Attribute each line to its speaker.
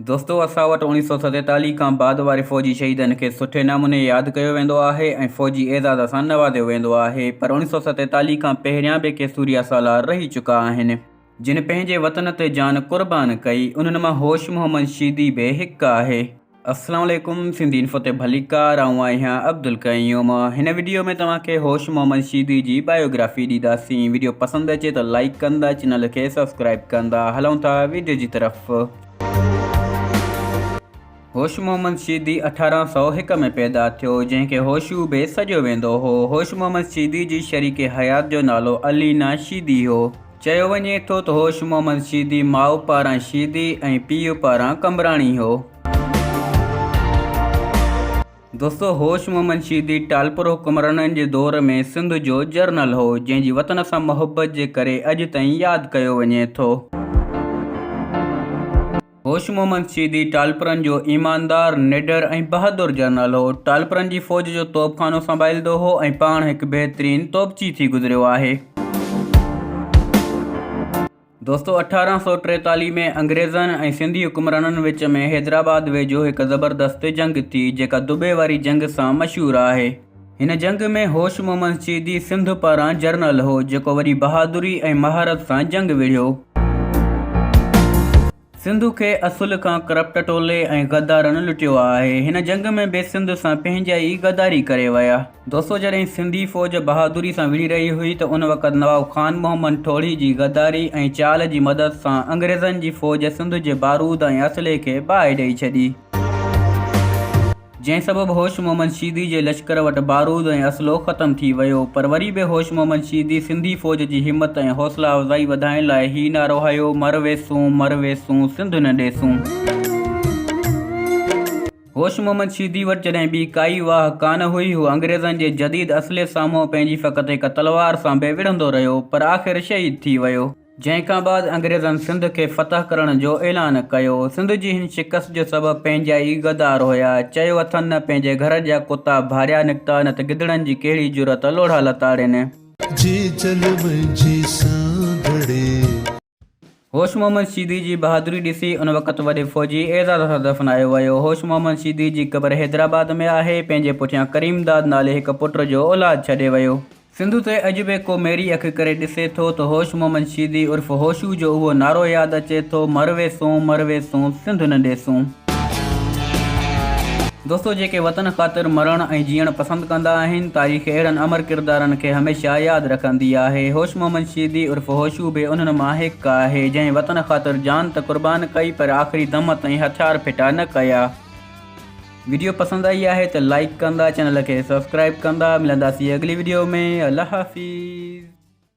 Speaker 1: دوستو اسان وٽ اوڻيھ سؤ ستيتاليھ کان بعد واري فوجي شهيدن کي سٺي ناموني ياد ڪيو ويندو آهي ۽ فوجي اعزاز سان نوازيو ويندو آهي پر اوڻيھ سؤ ستيتاليھ کان پهريان به ڪي سوريا سالار رهي چڪا آهن جن پنهنجي وطن تي جان قربان ڪئي انهن مان هوش محمد شيدي به هڪ آهي. اسلام عليڪم سنڌي انفو تي ڀليڪار آئون آهيان عبدالقيوم هن وڊيو ۾ توهان کي هوش محمد شيدي جي بايوگرافي ڏينداسين وڊيو پسند اچي ته لائيڪ ڪندا چينل کي سبسڪرائيب ڪندا هلون ٿا وڊيو جي طرف هوش محمد شيدي اٺارهن سؤ هڪ ۾ پيدا ٿيو جنهن کي هوشو به سڏيو ويندو هو هوش محمد شيدي جي شريڪ حيات جو نالو علينا شيدي هو چيو وڃي ٿو ته هوش محمد شيدي ماء پاران شيدي ۽ پيء پاران قمبراڻي هو. دوستو هوش محمد شيدي ٽالپر حڪمرانن جي دور ۾ سنڌ جو جرنل هو، جنهن جي وطن سان محبت جي ڪري اڄ تائين ياد ڪيو وڃي ٿو. هوش محمد سيدي ٽالپرن جو ايماندار، نڊر ۽ بهادر جنرل هو. ٽالپرن جي فوج جو توبخانو سنڀاليندو هو ۽ پاڻ هڪ بهترين توبچي ٿي گذريو آهي. دوستو اٺارهن سؤ ٽيتاليهه ۾ انگريزن ۽ سنڌي حڪمرانن وچ ۾ حيدرآباد ويجهو هڪ زبردست جنگ ٿي جيڪا دٻي واري جنگ سان مشهور آهي. هن جنگ ۾ هوش محمد سيدي سنڌ پاران جرنل هو، جيڪو وڏي بهادري ۽ مهارت سان جنگ وڙهيو. سنڌ کي اصل کان ڪرپٽ ٽولي ۽ غدارن لٽيو آهي. هن جنگ ۾ به سنڌ سان پنهنجا ئي غداري ڪري ويا. دوستو جڏهن سنڌي فوج بهادري سان وڙهي رهي هئي ته ان وقت نواب خان محمد ٺوڙهي جي غداري ۽ چال جي مدد سان انگريزن جي فوج سنڌ جي بارود ۽ اسلحي کي باهه ڏئي ڇڏي. جنهن سبب هوش محمد شيدي جي لشڪر وٽ بارود ۽ اسلحو ختم ٿي ويو پر وري به هوش محمد شيدي سنڌي فوج جي همت ۽ حوصلا افزائي وڌائڻ لاء هي نعرو هنيو مر ويسون مر ويسون سنڌ نه ڏيسون. هوش محمد شيدي وٽ جڏهن ٻي ڪائي واهه ڪانه هئي هو انگريزن جي جديد اسلحي سامهون پنهنجي فقط هڪ تلوار سان به وڙهندو رهيو پر آخر شهيد ٿي ويو. جنهن کان بعد انگريزن سنڌ کي فتح ڪرڻ جو اعلان ڪيو. سنڌ جي هن شڪست جو سبب پنهنجا ئي غدار هيا. چيو اٿن نه پنهنجي گهر جا ڪتا ڀاريا نڪتا نه ته گدڙن جي ڪهڙي جرئت لوڙها لتاڙين. هوش محمد شيدي جي بهادري ڏسي ان وقت وڏي فوجي اعزاز سان دفنايو ويو. هوش محمد شيدي جي قبر حيدرآباد ۾ آهي. پنهنجي پٺيان ڪريم داد نالي هڪ پٽ جو اولاد ڇڏي ويو. سنڌ تي اڄ به ڪو ميري اک ڪري ڏسي ٿو ته هوش محمد شيدي عرف هوشو جو اهو نعرو ياد اچي ٿو مر ويسون مر ويسون سنڌ نه ڏيسون. دوستو جيڪي وطن خاطر مرڻ ۽ جيئڻ پسند ڪندا آهن تاريخ اهڙن امر ڪردارن کي هميشه ياد رکندي آهي هوش محمد شيدي عرف هوشو به انهن مان هڪ آهي جنهن وطن خاطر جان ته قربان ڪئي پر آخري دم تائين هٿيار ڦٽا نه ڪيا. ويڊيو پسند آئي آهي ته لائيڪ ڪندا چينل کي سبسڪرائيب ڪندا ملنداسين اڳلي ويڊيو ۾ الله حافظ.